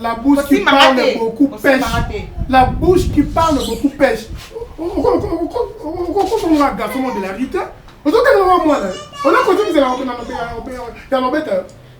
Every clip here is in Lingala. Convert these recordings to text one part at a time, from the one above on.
la bouche qui parle beaucoup pêche la bouche qui parle beaucoup pêche okokomona garçon de la rite ozokanga mwa mwana onakozokizela ya lobeta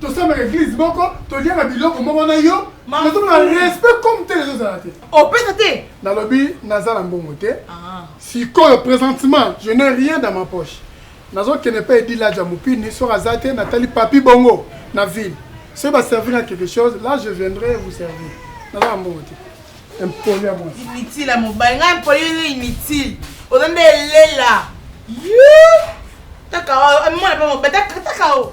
tosambaka eglise moko toliaka biloko moko na yo nazomona respect comme tel ezozala te opesa te nalobi naza na mbongo te ah. sikoyo présentement je n'ai rien dans ma poche nazokende mpe edilaja mopini soki aza te natali papi bongo na ville soki baservir na quelque chose là je viendrai vous servir naza na mbongo te Impoli ya mwasi. Inutile ya mobali. Nga impoli yo inutile. Oza nde elela. Yoo. Taka o. Oh, mwana pe mobali. Taka, taka o. Oh.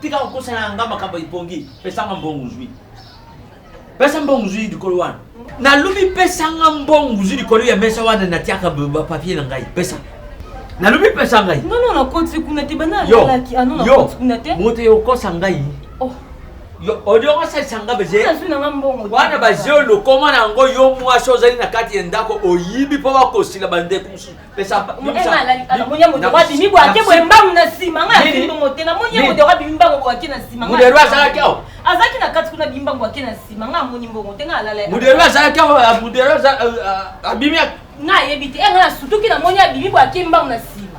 tika kokosela nga makambo ya lipongi pesanga mbongo ozwi pesa mbongo ozwi likolo wana nalobi pesa nga mbongo ozwi likolo ya mesa wana natiaka bapapie na ngai pesa nalobi pesa ngai nono nakoti kuna te bana alalaki ano ah, nakoti kuna te moto yokosa ngai oh. odiongo asalisa nga baze wana baze olokoma na yango yo mwasi ozali na kati ya ndako oyibi mpo bakosila bandeko mosusu pesa mema alali ala moni ya moto wapi mibo ake boye mbangu na nsima ngai nafingi bongo te namoni ye moto wapi mbangu boye ake na nsima modero azalaki awa azalaki na kati kuna bimbangu ake na nsima ngai amoni mbongo te ngai alala ye modero azalaki awa modero abimi ngai ayebi te ngai nasutuki namoni abimi boye ake mbangu na nsima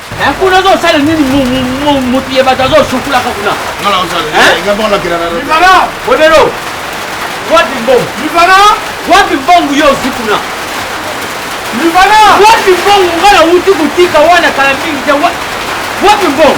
Eh, kuna ozosala nini motu ya bato azosukulaka kuna bodero wapi mbongo wapi mbongo yo osi kuna wapi mbongo nga na wuti kotika wana kala mingi te wapi mbongo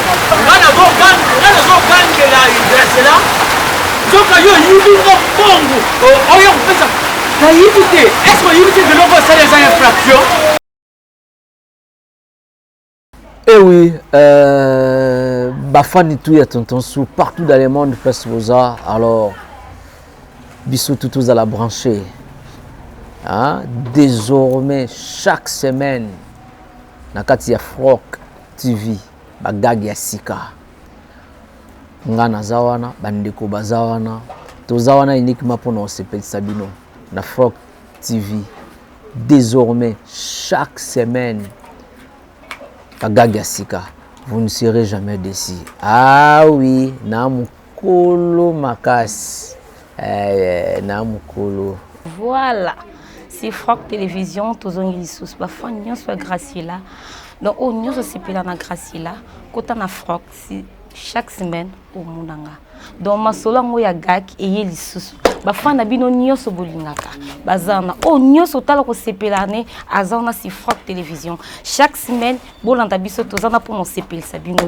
nga nazogangela gracela nzoka yo oyibi nga mbongo oyo kopesa nayibi te eske oyibi te biloko osala eza infraction ewi eh euh, bafani tu ya tonton su partout dans le monde place boza alors biso tu tozala branché hein? désormais chaque semaine na kati ya froc TV ba gag ya sika nga naza wana ba ndeko baza wana toza wana uniquement pona kosepelisa bino na Froc TV désormais chaque semaine ba gag ya sika vous ne serez jamais déçu ah oui na Kolo makasi eh, na mukolo. Voilà. C'est Franck Télévision, tozongi lisusu ba fan nyonso ya Graciela. Donc oyo nyonso asepela na Graciela, kota na Franck si chaque semaine omona nga. Donc masolo yango ya gak eye lisusu. Ba fan na bino nyonso bolingaka. Baza na oyo nyonso otala kosepela ne aza na si Franck Télévision. Chaque semaine bolanda biso tozana mpo na osepelisa bino.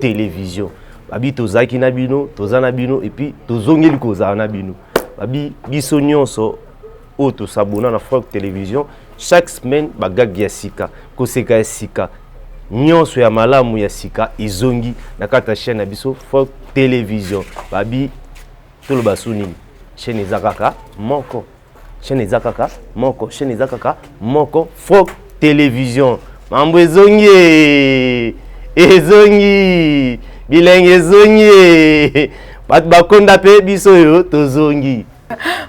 television babi tozalaki na bino toza na bino epuis tozongeli kozala na bino babi biso nyonso oyo tosabona na frank television chaque semaine bagagi ya sika koseka ya sika nyonso ya malamu ya sika ezongi na kati ya chaîne na biso frank television babi toloba su nini chaîne eza kaka moko chaîne eza kaka moko chaîne eza kaka moko froc télévision mambo ezongi ezongi bilenge ezongi bato bakonda mpe biso oyo tozongi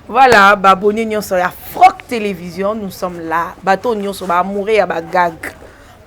voilà baboni nyonso ya froc télévision nous sommes là bato nyonso baamoure ya bagag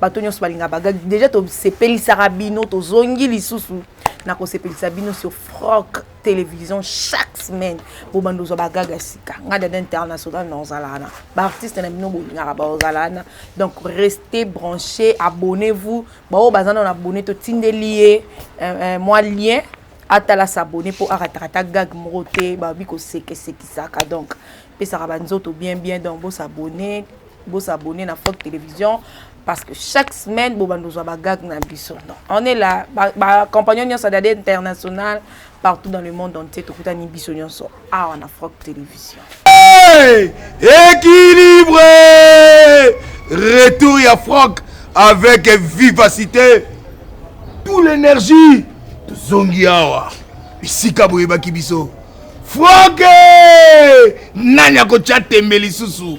bato nyonso balinga bagag déjà tosepelisaka bino tozongi lisusu na kosepelisa bino sur froc television chaque semaine bobanda ozwa bagaga sika ngai dada international na ozala wana baartiste na bino bolingaka baozala wana donc reste branché abonnez vous baoyo baza nano abonne totindeli ye euh, euh, mwa lien atala s'abonne mpo arataka ta gag moko te babi kosekesekisaka donc pesaka banzoto bien bien donc bosabonne Bo s'abonner na Fort Television parce que chaque semaine bo bando zwa ba gag na biso. Donc on est là ba, ba compagnon nyosa dade international partout dans le monde entier to kutani biso nyoso awa na Fort Television. Hey! Équilibre! Retour ya Franck avec vivacité. Tout l'énergie tozongi awa bisika boyebaki biso. Franck! Nani akotya tembe lisusu?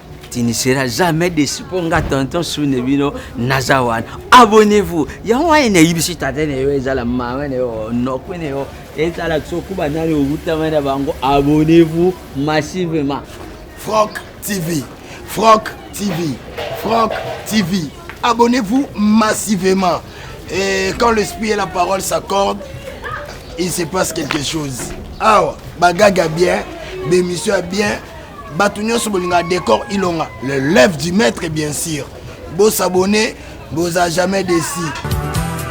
tu ne seras jamais déçu mpo nga tonton sune bino naza wana abonnez-vous yango wana nayebisi tata na yo ezala mama na yo nokwe na yo ezala soki banani owutama na bango abonnez-vous massivement franck tv franck tv franck tv abonnez-vous massivement et quand l'esprit et la parole s'accordent il se passe quelque chose awa bagaga bien bémission ya bien Batu nyoso bolinga decor ilonga. Le lève du maître bien sûr. Bo s'abonner, boza jamais déçu.